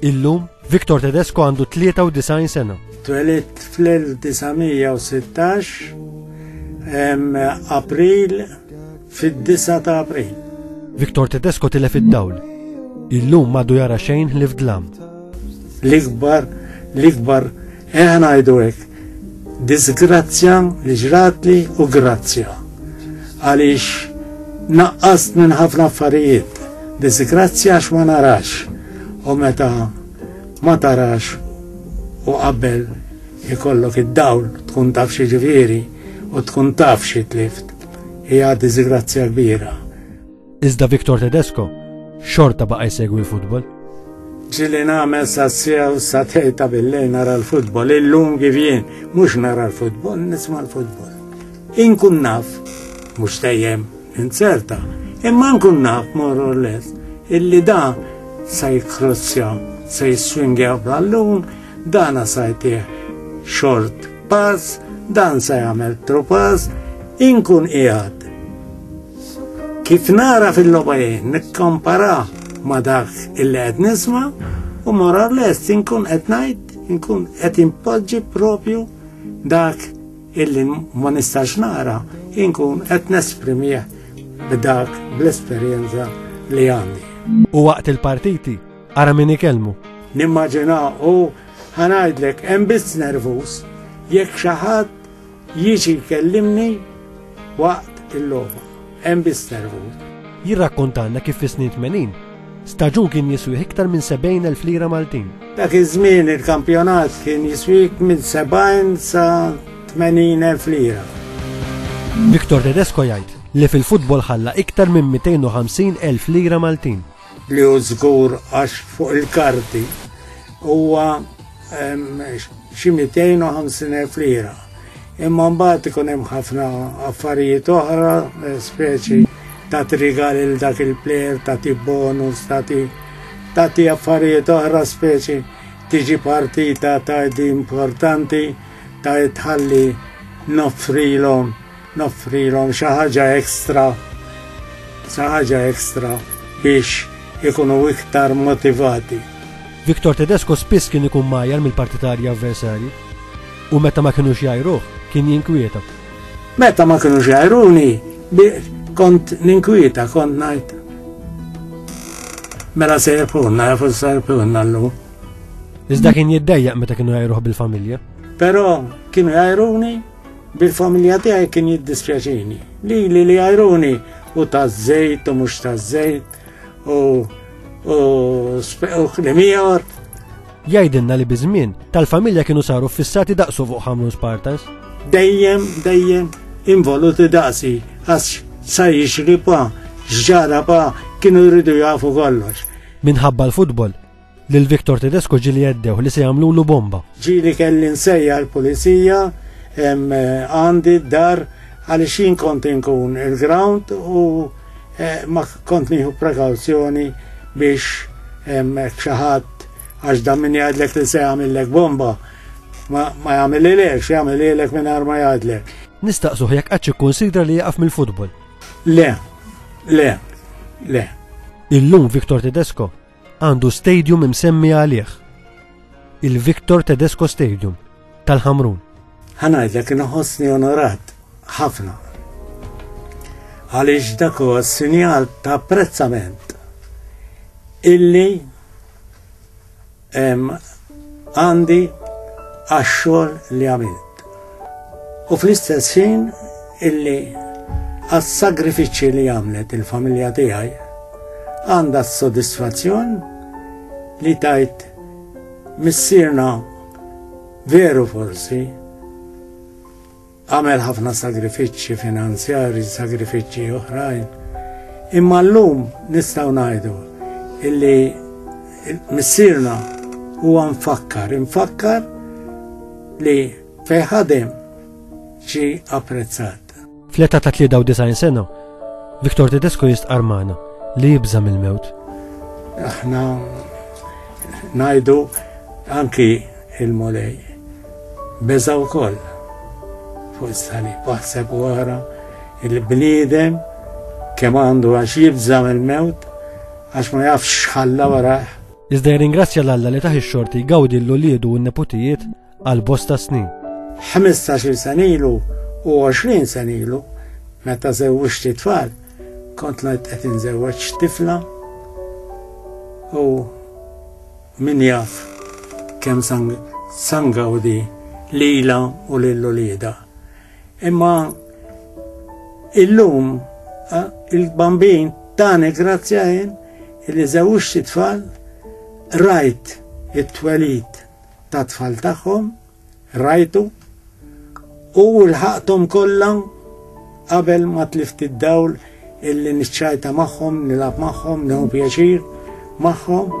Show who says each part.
Speaker 1: Illum,
Speaker 2: Victor Tedesco għandu 93 sena. Twelit fl-1916
Speaker 1: April fid-9 ta' April. Victor Tedesco
Speaker 2: tilef id-dawl. Illum madu jara xejn li fdlam. L-ikbar,
Speaker 1: l-ikbar Eħ ngħidu hekk, diżgrazzja li ġratli u grazzja għaliex naqqast minn ħafna affarijiet. Diżgrazzja għax ma narax u meta ma tarax u qabel ikollok id-dawl tkun taf xi ġifieri u tkun taf xi tlift hija diżgrazzja kbira. Iżda
Speaker 2: Victor Tedesco xorta baqa' jsegwi l-futbol. Ġili
Speaker 1: nagħmel sa sew sa tejta billej nara l-futbol, illum kif jien mhux nara l-futbol, nisma' l-futbol. Inkun naf, mhux tejjem inzerta, imma nkun naf more or less illi da sa jikrossja, sa jiswingja ballun, dana sa jtih short pass, dan sa jagħmel tropas, inkun qiegħed Kif nara fil-logħba jien nikkompara ma' dak illi qed nisma' u mora lest inkun qed ngħid inkun qed impoġġi propju dak illi ma nistax nara inkun qed nesprimih b'dak bl-esperjenza li għandi. U waqt
Speaker 2: il-partiti, ara min ikellmu. Nimmaġina
Speaker 1: u ħanajdlek hemm biss nervus jekk xi ħadd Jiġi jkellimni waqt il-logħba. Hemm biss nervu. Jirrakkontalna
Speaker 2: kif fis-snin tmenin, staġun kien jiswih iktar minn 70,000 lira Maltin. Dak iż-żmien
Speaker 1: il-kampjonat kien jiswik minn 70 sa 80,000 lira.
Speaker 2: Victor Tedesco jgħid li fil-futbol ħalla iktar minn 250,000 lira Maltin. li hu żgur
Speaker 1: għax fuq il-karti huwa xi 250,000 lira. Imma mbagħad ikun hemm ħafna affarijiet oħra, eh, speċi ta' trigal il dak il-plejer, ta' ti bonus, ta' ti ta' ti affarijiet oħra speċi tiġi partita ta' di importanti ta' tħalli noffrilhom noffrilhom xi ħaġa ekstra, xi ħaġa ekstra biex ikunu iktar motivati. Victor
Speaker 2: Tedesco spiss kien ikun mgħajjar mill-partitarji avversarji u meta ma kinux jgħajruh kien jinkwieta. Meta ma
Speaker 1: kinux jgħajruni kont ninkwieta, kont ngħid. Mela se jirpunna, jafu se jirpunna l-lum. Iżda
Speaker 2: kien jiddejjaq meta kienu jgħajruh bil-familja. Però
Speaker 1: kienu jgħajruni Bil-familja tiegħi kien jiddispjaċini. Li li li għajruni u taż-żejt u mhux taż-żejt u u l-miegħor. Jgħidilna
Speaker 2: li biż-żmien tal-familja kienu saru fissati daqsu fuq ħamlu Spartans. Dejjem,
Speaker 1: dejjem involuti daqsi għax sa jixri pa, ġara pa, kienu jridu jafu kollox. Minħabba
Speaker 2: l-futbol, Lil Victor Tedesco ġieli għeddew li se jagħmlulu bomba. Ġieli kelli
Speaker 1: nsejja l-pulizija għandi d-dar għaliex jien kont inkun il-ground u eh, ma kont nieħu prekawzjoni biex xaħat għax da min jgħadlek li se jagħmillek bomba ma jagħmel ilek, jagħmel ilek minn ma jgħadlek. Nistaqsuh jekk qatt
Speaker 2: ikkunsidra li jaqaf mill-futbol. Le,
Speaker 1: le, le.
Speaker 2: Illum Viktor Tedesco għandu stadium imsemmi għalih. Il-Victor Tedesco Stadium tal-Ħamrun. Ħanajdlek
Speaker 1: inħossni onorat ħafna. Għaliex dak huwa sinjal ta' apprezzament illi għandi għax-xogħol li għamilt. U fl-istess ħin illi għas-sagrifiċċji li għamlet il-familja tiegħi għandha s-sodisfazzjon li tajt missirna veru forsi Għamel ħafna sagrifiċċji finanzjarji, sagrifiċċji oħrajn. Imma llum nistgħu ngħidu illi missierna huwa nfakkar, infakkar li fejn
Speaker 2: ħadem
Speaker 1: ġi apprezzat.
Speaker 2: Fl-età
Speaker 1: ta' 93
Speaker 2: sena, Viktor Tedesco jistqar magħna li jibża' mill-mewt. Aħna
Speaker 1: ngħidu anki Il-Mulej beża' wkoll fuq is-salib. Aħseb u ara il-bniedem kemm għandu għax jibża' mill-mewt għax ma jafx x'ħalla warajh. Iżda jirringrazzja
Speaker 2: 'l Alla li tah ix-xorti jgawdi 'l uliedu u n-neputijiet għal bosta snin. Ħmistax-il
Speaker 1: sena ilu u għoxrin sena ilu meta żewwiġt it-tfal, kont qed inżewweġ tifla u Min jaf kemm sangawdi lilha u lil uliedha. Imma illum il-bambin tani grazzja jien li żewġt tfal rajt it-twelid ta' tfal tagħhom Rajtu? U lħaqthom kollha qabel ma tlift id-dawl illi niċċajta magħhom, nilgħab magħhom, neħu pjaċir magħhom.